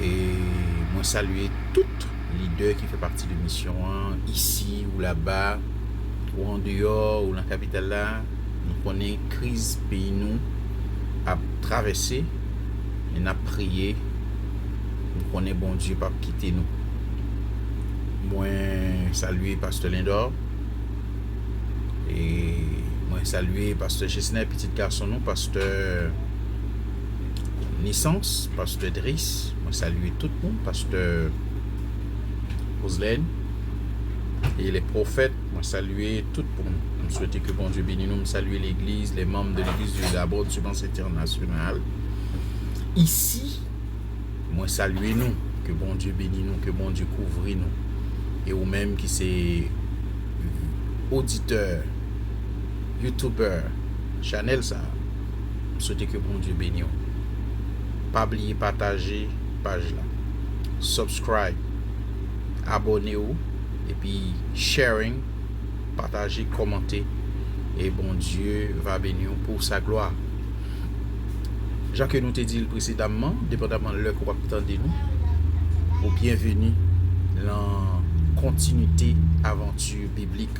E mwen salye tout lidè ki fè pati de misyon an, isi ou laba, ou an deyò, ou lan kapital la, nou konnen kriz peyi nou ap travèse, men nap priye, nou konnen Bondye pap kite nou. Mwen salye pastè Lindor, e mwen salye pastè Gesner, pitit gason nou, pastè. Nisans, pastè Dries, mwen salye tout nou, pastè Roselèn e lè pwofèt, mwen salye tout moun, mwen swete ke Bondye beni nou, mwen salye legliz, lè manm de legliz Dieu D'abord du Mans Entènasyonal isi, mwen salye nou, ke Bondye beni nou, ke Bondye kouvri nou e ou menm ki se oditè, youtubè chanèl sa. M swete ke Bondye beni w. Pa bliye pataje paj la. Subscribe, abone w epi sharing, pataje, komante e Bondye va beni w pou sa glwa. Jan ke nou te di l presedamman, depandaman lè ke w ap tande nou, ou byenveni lan kontinite avanti biblik.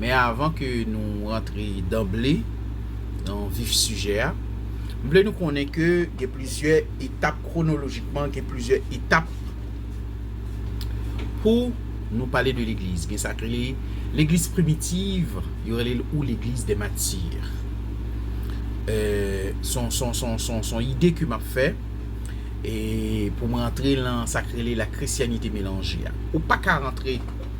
Men avan ke nou rantre danble nan vif sijè a, m vle nou konnen ke gen plizyè etap kwonolojikman, gen plizyè etap pou nou pale de legliz. Gen sa k rele legliz primitiv, yo rele l ou legliz dè matir. S on ide ke m ap fè pou m rantre lan sa k rele la krisyanite melanje a. Ou pa ka rantre.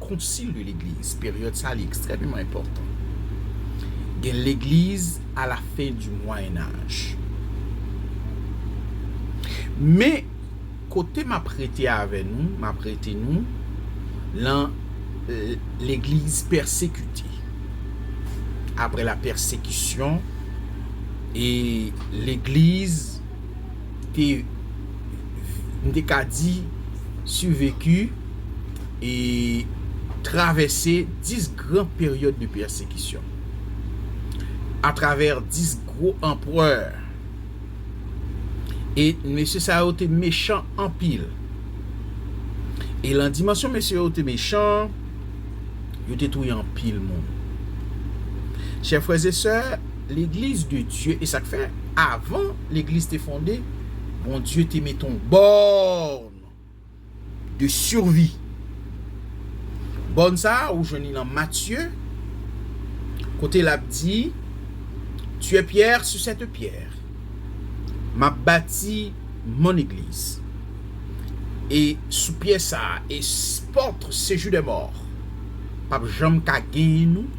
Concile de l'Eglise, peryòd sa li ekstrèmeman enpòtan. Gen legliz a la fen di Mwayen Aj. Men, kote m ap rete avè nou, m ap rete nou lan legliz pèsekite. Apre lapèsekisyon, e legliz. te m te ka di survecu e travèse 10 gran peryòd de pèsekisyon atravè 10 gwo anprè e mesye sa yo te mechan anpil e lan dimansyon mesye yo te mechan yo te touye anpil moun chè frè zesè Legliz de Dye esak fè avan legliz te fonde Bondye te met yon bòn de survi bòn sa ou jwenn li nan Matye kote lap di tu es pierre sur cette pierre map bati mon eglise e sou pyè sa e porte sejour des morts pap janm ka genyen nou.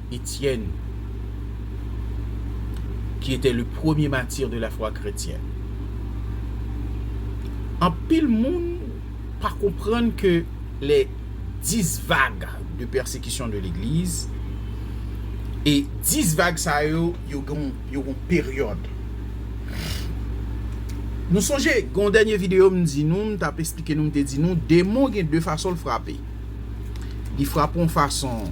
Etienne ki etè le premye matir de la fwa kretyen. Anpil moun pa konprann ke lè 10 vag de pèsekisyon de legliz e 10 vag sa yo, yo gen yon peryòd. Nou sonje gen yon dènye video m di nou, m t ap esplike nou, m te di nou demon gen 2 fason l frape. Li frape yon fason.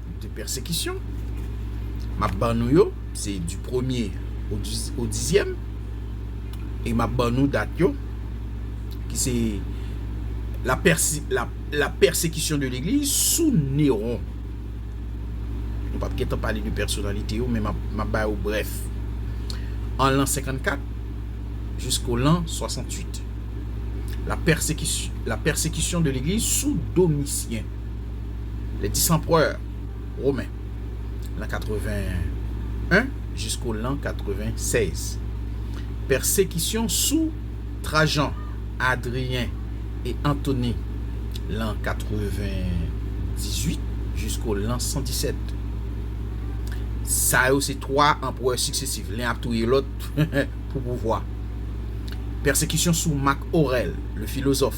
de pèsekisyon m ap ban nou yo, se di premye o dizyèm, e m ap ban nou dat yo, ki se la pèsekisyon de legliz sou Neron. Nou pa p gen tan pale de pèsonalite yo, men m ap ba yo brèf. An lan 54 jisko lan 68, la pèsekisyon de legliz sou Domisyen. le dis anprè women lan 81 jisko lan 96. Pèsekisyon sou Trajan, Adriyen e Antoni lan 98 jisko lan 117. Sa yo se twa anprè siksesif, len ap touye lòt pou pouvwa. Pèsekisyon sou Mak Orèl, le filozòf.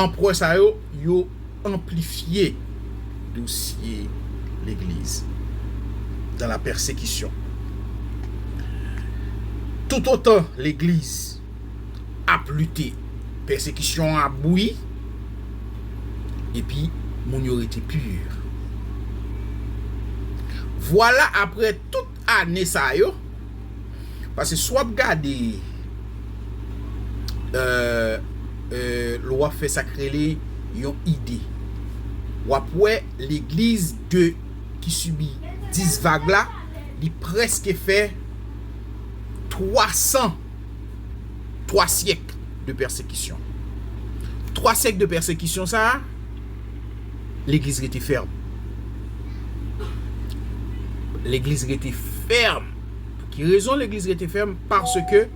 Anprè sa yo, yo anplifye dosye legliz dan la pèsekisyon. Toutotan legliz ap lite, pèsekisyon an ap bouyi, epi moun yo rete pur. Vwala aprè tout ane sa yo pase si w ap gade lè w ap fè sa k rele yon ide w ap wè legliz de ki sibi 10 vag la li prèske fè 3 san 3 syèk de pèsekisyon 3 syèk de pèsekisyon sa a. Legliz rete fèm. Legliz rete fèm. Pou ki rezon legliz rete fèm? Paske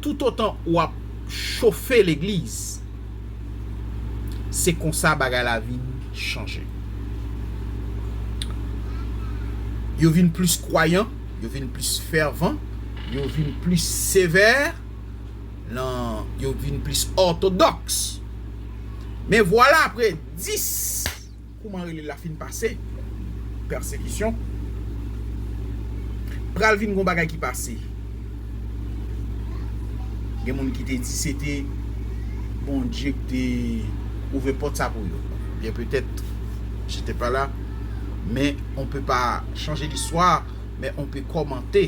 tout otan ou ap chofe legliz, se konsa bagay la vin chanje. Yo vin plis kwayan, yo vin plis fèvan, yo vin plis sevè. lan yo vin plis òtodòks. Men vwala apre 10, kouman rele l la fin pase, pèsekisyon, pral vin gen yon bagay ki pase. Gen moun ki te di se te Bondye ki te ouvè pòt sa pou yo. Byen petèt, je te pa la, men on pe pa chanje listwa, men on pe kòmante.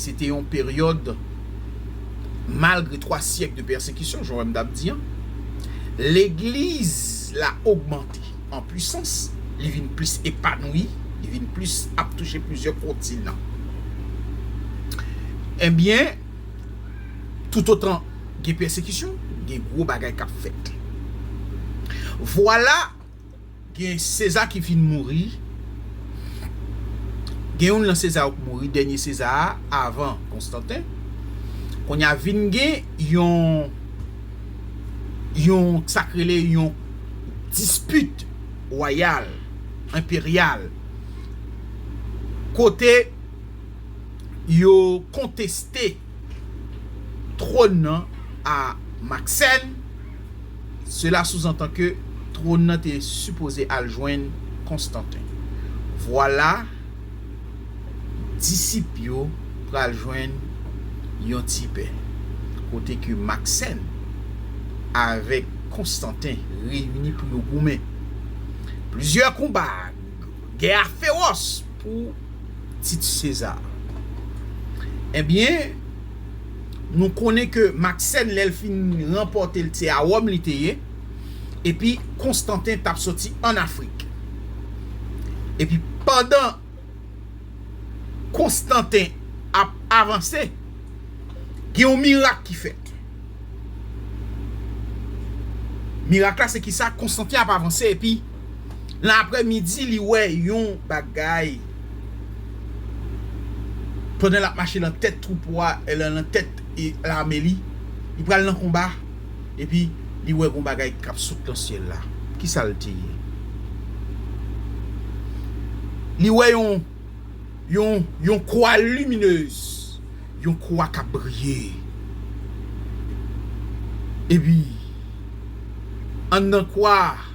se te yon peryòd malgre 3 syèk de pèsekisyon, jan m t ap di an, legliz la ogmante an pwisans, li vin plis epanouyi, li vin plis ap touche plizyè kontinan. Ebyen, toutotan gen pèsekisyon, gen gwo bagay k ap fèt. Vwala! Gen Seza ki fin mouri, gen youn lan Seza yo k mouri, dènye Seza a avan Konstanten. Kounye a vin gen yon, yon sa k rele yon dispit wayal, enperyal kote yo konteste twòn nan a Maksèn. Sela souzantan ke twòn nan te sipoze al jwenn Konstanten. Vwala disip yo pral jwenn yon ti pè, kote ke Maksenn avèk Konstanten reyini pou yo goumen. Plizyè konba, gè a fewòs pou tit Seza. Ebyen. Nou konnen ke Maksèn lè l fin ranpòte l se a Wòm li te ye, epi Konstanten t ap soti ann Afrik. Epi pandan Konstanten ap avanse, gen yon mirak ki fèt. Mirak la se kisa? Konstanten ap avanse epi. Nan aprè midi li wè yon bagay pandan lap mache nan tèt twoupo a nan tèt lame li li pral nan konba epi li wè yon bagay kap sot nan syèl la kisal te ye li wè yon yon yon kwa liminez yon kwa kap briye epi anndan kwa a.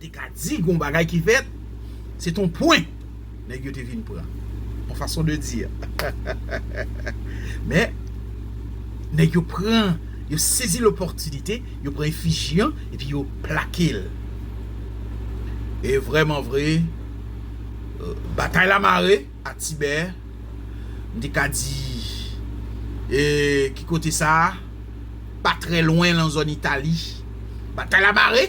Te ka di gon bagay ki fèt, se ton pwen nèg yo te vin pran. On façon de dire. Men, nèg yo pran, yo sezi lopòtinite, yo pran efiji an epi yo plake l. E vrèman vre, batay la mare a Tibè, m te ka di, e ki kote sa? Pa trè lwen lan zòn Itali. Batay la mare!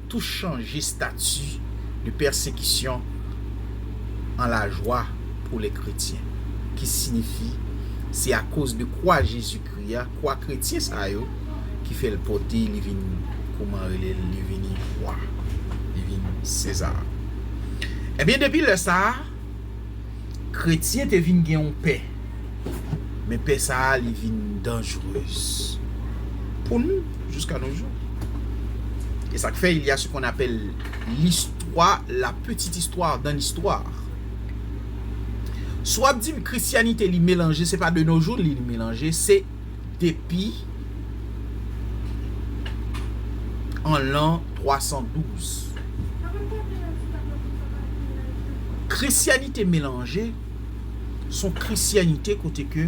Tou chanje stati de pèsekisyon an lajwa pou lè kretyen, ki sinifi se akoz de kwa Jezikri a, kwa kretyen sa yo ki fè l pòte li vin kouman rele l li vini wa, li vin Sezar. Ebyen depi lè sa a. Kretyen te vin gen yon pè, men pè sa a li vin danjrez pou nou jiska nou jou. E sa k fè il y a ce qu'on appelle l'histoire, la petite histoire dans l'histoire. Si w ap di m Christianite li melanje, se pa de nos jours li melanje, se depi an lan 312. Krisyanite melanje s on krisyanite kote ke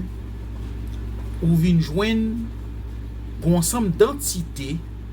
ou vin jwenn gon ansanm dantite.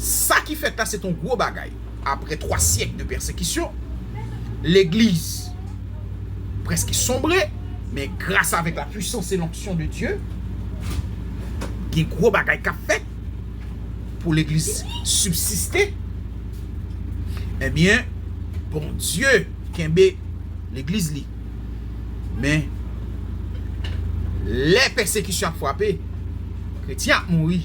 Sa ki fèt la se t yon gwo bagay. Apre twa syèk de pèsekisyon, legliz prèske sonbre, men gras avèk la pwisans e lonksyon de Dye, gen gwo bagay k ap fèt pou legliz sibsiste. Ebyen, Bondye kenbe legliz li. Men, lè pèsekisyon ap frape, kretyen ap mouri.